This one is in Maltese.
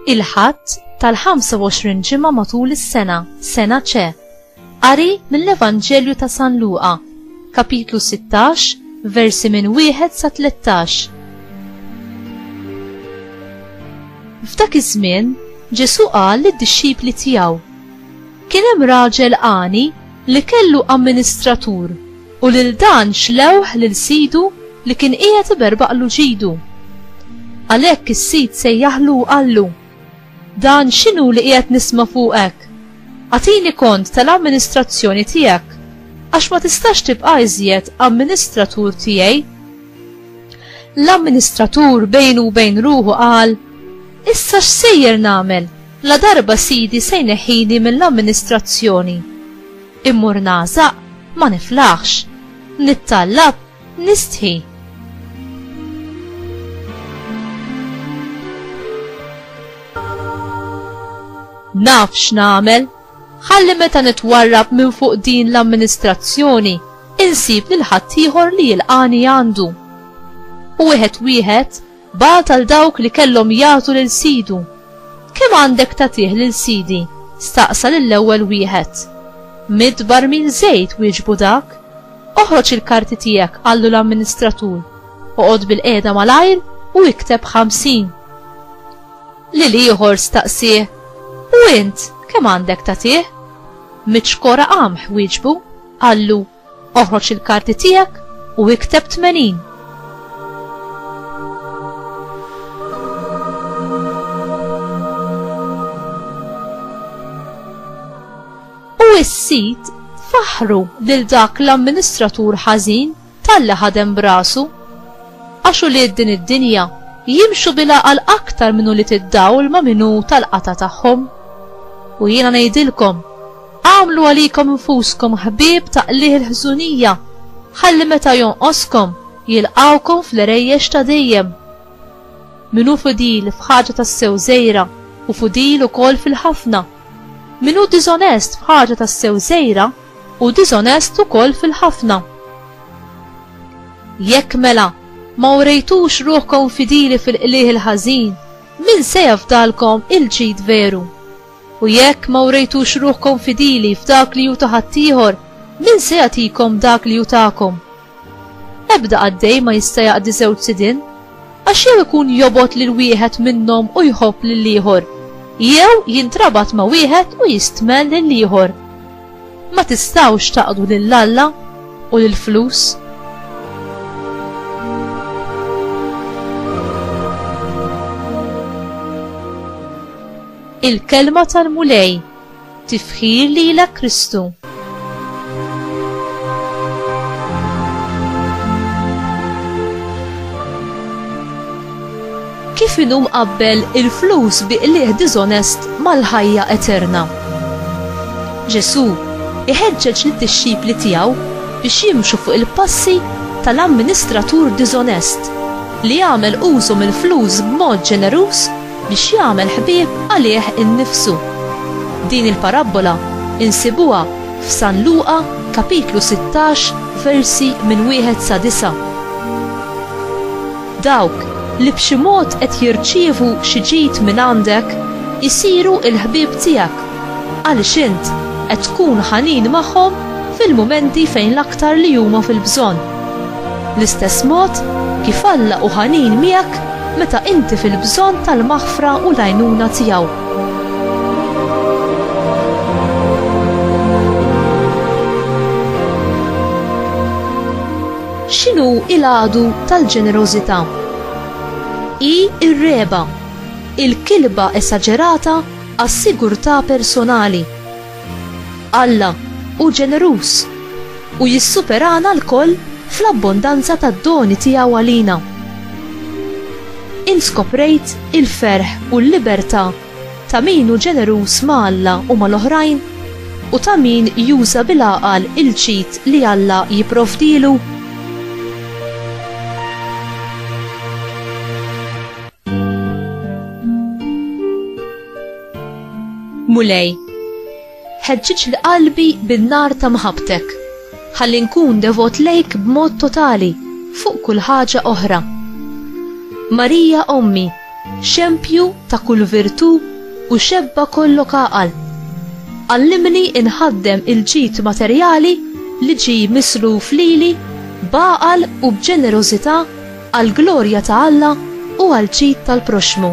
il-ħadd tal-25 ġimgħa matul is-sena, sena ċe, Qari mill-Evanġelju ta' San Luqa, Kapitlu 16, versi minn wieħed sa 13. F'dak iż-żmien Ġesù qal lid-dixxipli tiegħu, Kien hemm raġel għani li kellu amministratur u lil dan xlewh lil sidu li kien qiegħed iberbaqlu ġidu. Għalhekk is-sid sejjaħlu u qallu, Dan x'inhu li qiegħed nisma' fuqek? Agħtini kont tal-amministrazzjoni tiegħek, għax ma tistax tibqa' iżjed amministratur tiegħi. L-amministratur bejnu u bejn ruħu qal, Issa x'sejjer nagħmel, ladarba sidi se jneħħini mill-amministrazzjoni? Immur nagħżaq, ma niflaħx. Nittallab, Nistħi. Naf x'nagħmel, ħalli meta nitwarrab minn fuq din l-amministrazzjoni insib lil ħaddieħor li jilqani għandu. U wieħed wieħed Bagħat għal dawk li kellhom jagħtu lil sidu. Kemm għandek tagħtih lil sidi? staqsa lill-ewwel wieħed. Mitt barmil żejt, wieġbu dak. Oħroġ il-karti tiegħek, qallu l-amministratur. Oqgħod bilqiegħda malajr u ikteb ħamsin. Lil ieħor staqsih, U int kemm għandek tagħtih? Mitt xkora qamħ, wieġbu, qallu Oħroġ il-karti tiegħek u ikteb 80. U s-sit faħru lil dak l-amministratur ħażin talli ħadem brasu. Għax ulied din id-dinja jimxu bila għal aktar minn ulied id-dawl ma' minnu tal-qata tagħhom. U jiena ngħidilkom, Agħmlu għalikom infuskom ħbieb ta' qligħ il-ħżunija, ħalli meta jonqoskom, jilqgħukom fl-għerejjex ta' dejjem. Min hu fidil f'ħaġa tassew żgħira, hu fidil ukoll fil-ħafna. Min hu diżonest f'ħaġa tassew żgħira, hu diżonest ukoll fil-ħafna. Jekk mela ma urejtux ruħkom fidili fil-qligħ il-ħażin, min se jafdalkom il-ġid veru? U jekk ma wrejtux ruħkom fidili f'dak li hu ta' ħaddieħor, min se jagħtikom dak li hu tagħkom? Ebda qaddej ma jista' jaqdi żewġ sidien, għax jew ikun jobgħod lil wieħed minnhom u jħobb lill-ieħor, jew jintrabat ma' wieħed u jistmel lill-ieħor. Ma tistgħux taqdu lil Alla u lill-flus. Il-Kelma tal-Mulej, Tifħir lilek Kristu. Kif inhu mqabbel il-flus bi qligħ diżonest mal-ħajja eterna? Ġesù iħeġġeġ lid-dixxipli tiegħu biex jimxu fuq il-passi tal-amministratur diżonest li għamel użu mill-flus b'mod ġeneruż biex jagħmel ħbieb għalih innifsu. Din il-parabbola insibuha f'San Luqa kapitlu sittax versi minn wieħed sa disa'. Dawk li b'xi mod qed jirċievu xi ġid mingħandek isiru l-ħbieb tiegħek għaliex int qed tkun ħanin magħhom fil-mumenti fejn l-aktar li huma fil-bżonn. L-istess mod kif Alla hu ħanin miegħek meta inti fil-bżonn tal-maħfra u l-għajnuna tiegħu. X'inhu il-għadu tal-ġenerożità? Hi r-regħba, il-kilba esaġerata għas-sigurtà personali, Alla hu ġeneruż u jissuperana lkoll fl-abbondanza tad-doni tiegħu għalina. Int skoprejt il-ferħ u l-libertà ta' min hu ġeneruż ma' Alla u mal-oħrajn u ta' min juża bil-għaqal il-ġid li Alla jipprovdilu? Mulej, ħeġġiġ li qalbi bin-nar ta' mħabbtek, ħalli nkun devot lejk b'mod totali fuq kull ħaġa oħra. Marija Ommi, xempju ta' kull virtù u xebba kollok għaqal. Għallimni inħaddem il-ġid materjali li ġi misluf lili b'għaqal u b'ġenerożità għall-glorja ta' Alla u għall-ġid tal-proxxmu.